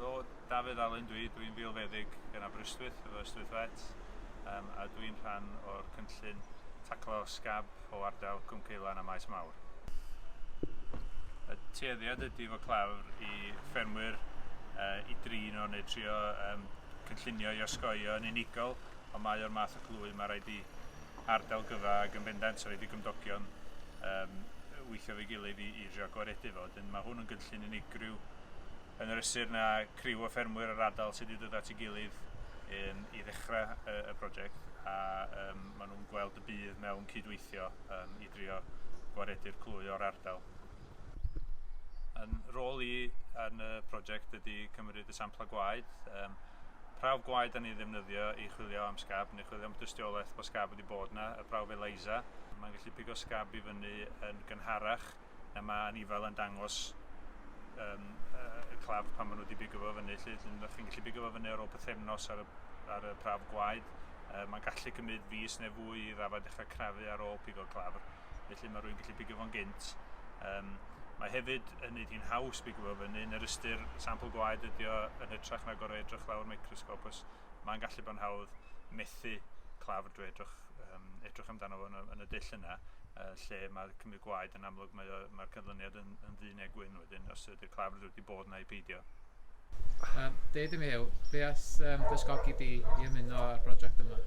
Helo, Dafydd Alun dwi, dwi'n filfeddyg yn Aberystwyth efo Ystwyth Vet um, a dwi'n rhan o'r cynllun taclo scab o ardal Cwm Ceilan a Maes Mawr. Y tueddiad ydy fo clafr i ffermwyr uh, i drin o neu trio um, cynllunio i osgoio yn unigol, ond mae o'r math o glwy mae rhaid i ardal gyfa ac yn bendant rhaid i gymdogion yym weithio efo'i gilydd i i drio gwaredu fo. Wedyn ma' hwn yn gynllun unigryw yn yr ystyr na criw o ffermwyr yr ardal sydd wedi dod at ei gilydd yn i ddechra y y project a yym ma' nhw'n gweld y budd mewn cydweithio yym i drio gwaredu'r clwy o'r ardal. Yn rôl i yn y project ydy cymryd y sampla gwaed, yym prawf gwaed 'dan ni'n ddefnyddio i chwilio am scab chwilio am dystiolaeth bod scab wedi bod yna, y prawf ELISA. Mae'n gallu pigo scab i fyny yn gynharach na mae anifail yn dangos um, y claf pan maen nhw wedi bigo fo fyny. Lly, chi'n gallu bigo fo fyny ar ôl pethefnos ar y, ar y prawf gwaed. Uh, mae'n gallu cymryd fus neu fwy i rafa dechrau crafu ar ôl pigo claf. Felly mae rhywun gallu pigo fo'n gynt. Um, Mae hefyd yn neud hi'n haws bigo fo fyny yn yr ystyr sampl gwaed ydi o yn hytrach na gorau edrych lawr microsgop os mae'n gallu bod yn hawdd methu claf drwy edrych, um, edrych amdano fo yn y, yn y dull yna, uh, lle mae cymryd gwaed yn amlwg mae'r mae, mae canlyniad yn, yn ddu neu gwyn wedyn, os ydy'r claf rydw wedi bod yna i peidio. Um, Deud i mi yw, be as um, dysgogi di i ymuno â'r prosiect yma?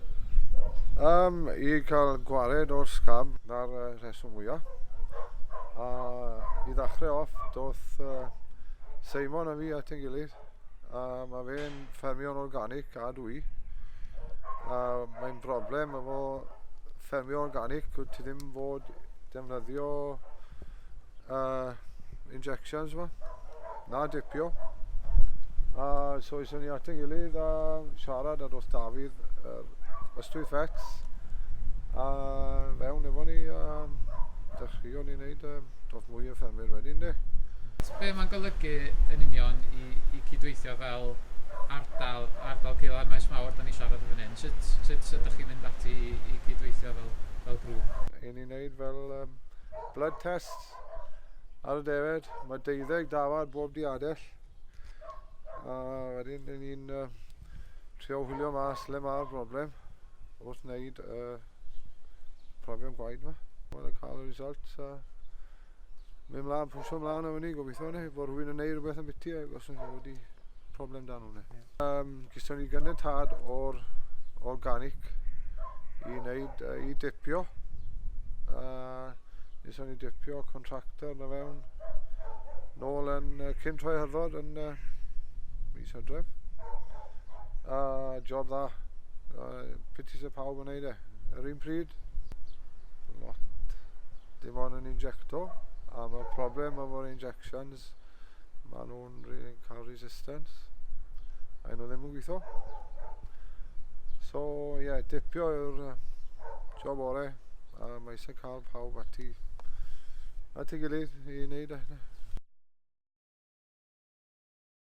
Um, I cael gwared o'r sgab na'r uh, rheswm mwyaf. A i ddechrau off, doth uh, Simon a fi at yn gilydd A mae fe'n ffermio'n organic a dwi. A mae'n broblem efo ffermio organic, wyt ti ddim fod defnyddio uh, injections yma, na dipio. A so eisiau ni at yn gilydd a siarad ar wrth Dafydd yr ystwyth fets a fewn efo ni a dechreuon ni wneud um, Mwy o ffermwyr wedyn de. So be mae'n golygu yn union i, i cydweithio fel ardal, ardal Ceil a'r Maes Mawr, da ni siarad o fan hyn. Sut, sut so, ydych chi'n mynd ati i, i cydweithio fel, fel grŵp? Yn ni'n neud fel um, blood test ar y defed. Mae deuddeg dafad bob diadell. A wedyn yn ni'n uh, trio hwylio mas le mae'r broblem wrth wneud y uh, profion gwaed yma. Mae'n cael y result a mynd mlaen, pwysio mlaen am hynny, gobeithio ni, bod rhywun yn neud rhywbeth yn biti ac os ydyn wedi problem dan hwnna. Yeah. Um, Gyston ni gynnydd tad o'r organic i wneud, uh, i dipio. Uh, Nes o'n i dipio contractor na fewn. Nôl yn uh, cyn troi hyrfod yn uh, mis hydref. A job dda. Uh, piti sy'n pawb yn neud e. Yr un pryd, lot. Dim ond yn injecto. A mae'r problem efo'r injections, maen nhw Cymru yn cael resistance a nhw ddim yn gweithio so ie yeah, dipio yw'r job orau a mae eisiau cael pawb ati at ei gilydd i wneud e